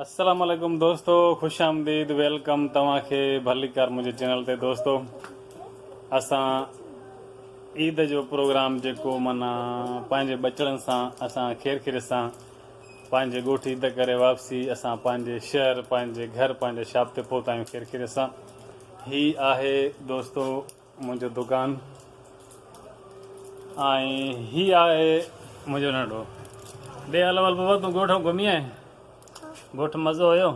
السلام عليڪم دوستو خوش آمديد ويلڪم توهان کي ڀليڪار منهنجي چينل تي دوستو اسان عيد جو پروگرام جيڪو منا پنهنجي ٻچڙن سان اسان خير خيريت سان پنهنجي ڳوٺ عيد ڪري واپسي اسان پنهنجي شهر پنهنجي گهر پنهنجي شاپ تي پهتا آهيون خير خيريت سان هي آهي دوستو منهنجو دوڪان ۽ هي آهي منهنجو ننڍو ڏي هل ول بابا تون ڳوٺ گهمي آئين ڳوٺ مزو هيو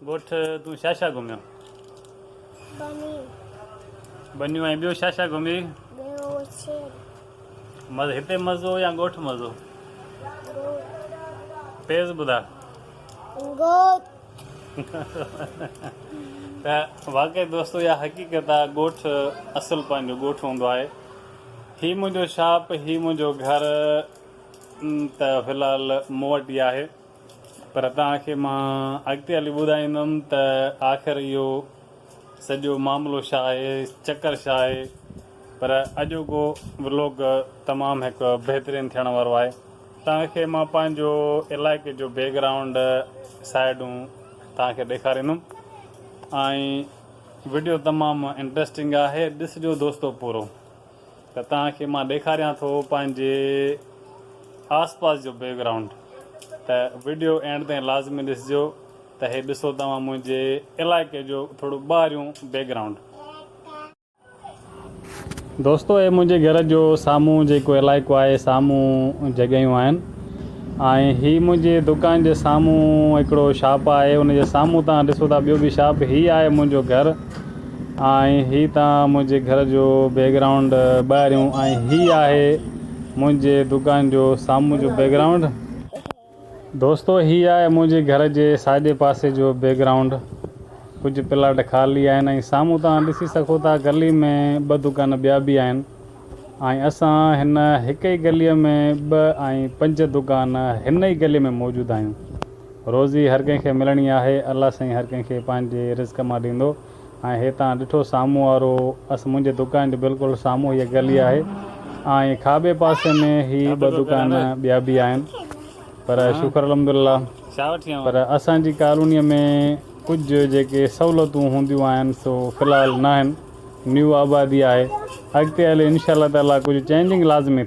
ڳوٺ تون ڇا ڇا گهميو بنيون ۽ ٻيو ڇا ڇا گهمي مزو هتي مزو يا ڳوٺ مزو تيز ٻڌا ته واقعي دوستو اها حقيقت آ ڳوٺ اصل پنهنجو ڳوٺ هوندو آهي هي منهنجو شاپ هي منهنجو گهر ته في الحال مون وٽ ئي آهي پر توهان کي مان اڳتي هلي ٻڌائيندم ته آخر اهو سڄو معاملو ڇا آهي چڪر ڇا آهي پر اڄوڪو ولوگ تمام هڪ بهترين ٿيڻ وارو آهي توهان کي مان پنهنجو علائقي جو بيڪ گرائونڊ سائيڊون توهان کي ڏيکاريندم ۽ وڊيو تمام انٽرسٽنگ آهي ڏسجو دوستو پورو. ته توهان کي مان ڏيکاريان ٿو پنهنجي آس پاس جو بيڪ گرائونڊ ته وڊيو اينڊ تائين لازمي ڏسجو ته هي ڏسو توهان منهنجي علائقي جو ٿورو ٻاهريون بيڪ گرائونڊ. دوستو هي منهنجي گهر جو سامهون جيڪو علائقو آهي سامهون جڳهيون آهن ۽ هي منهنجي دڪان جي سامهون هڪڙو شاپ آهي ان جي سامهون توهان ڏسو ٿا ٻيو به شاپ هي آهي منهنجو گهر ۽ هي ته منهنجي گهر جو بيڪ گرائونڊ ٻاهريون ۽ هي آهي منهنجي دوڪان جو سامهون جو بيڪ گرائونڊ دوستو هي آهي منهنجي گهر جي ساڄي پاسي جو بيڪ گرائونڊ ڪجهه پلاٽ خالي آهن ۽ سامهون توهان ڏسي سگهو ٿا گلي ۾ ٻه دوڪان ٻيا به آهن ۽ اسان هن هڪ ئي گلي ۾ ٻه ۽ پنج دوڪان هن ئي گلي ۾ موجود آهيون. روزي هر ڪنهن کي ملڻي آهي الله سائين هر ڪنهن کي پنهنجي رزق مان ڏيندو ۽ هي تان ڏٺو سامهون وارو اس منهنجي دڪان جي بلڪل سامهون هيء گلي آهي ۽ کاٻي پاسي ۾ هي ٻه دڪان ٻيا به آهن پر شڪر الحمدلله پر اسان جي ڪالوني ۾ ڪجهه جيڪي سهولتون هونديون آهن سو في الحال ناهن نيو آبادي آهي اڳتي هلي انشاء الله تعالي ڪجهه چينجنگ لازمي ٿيندي.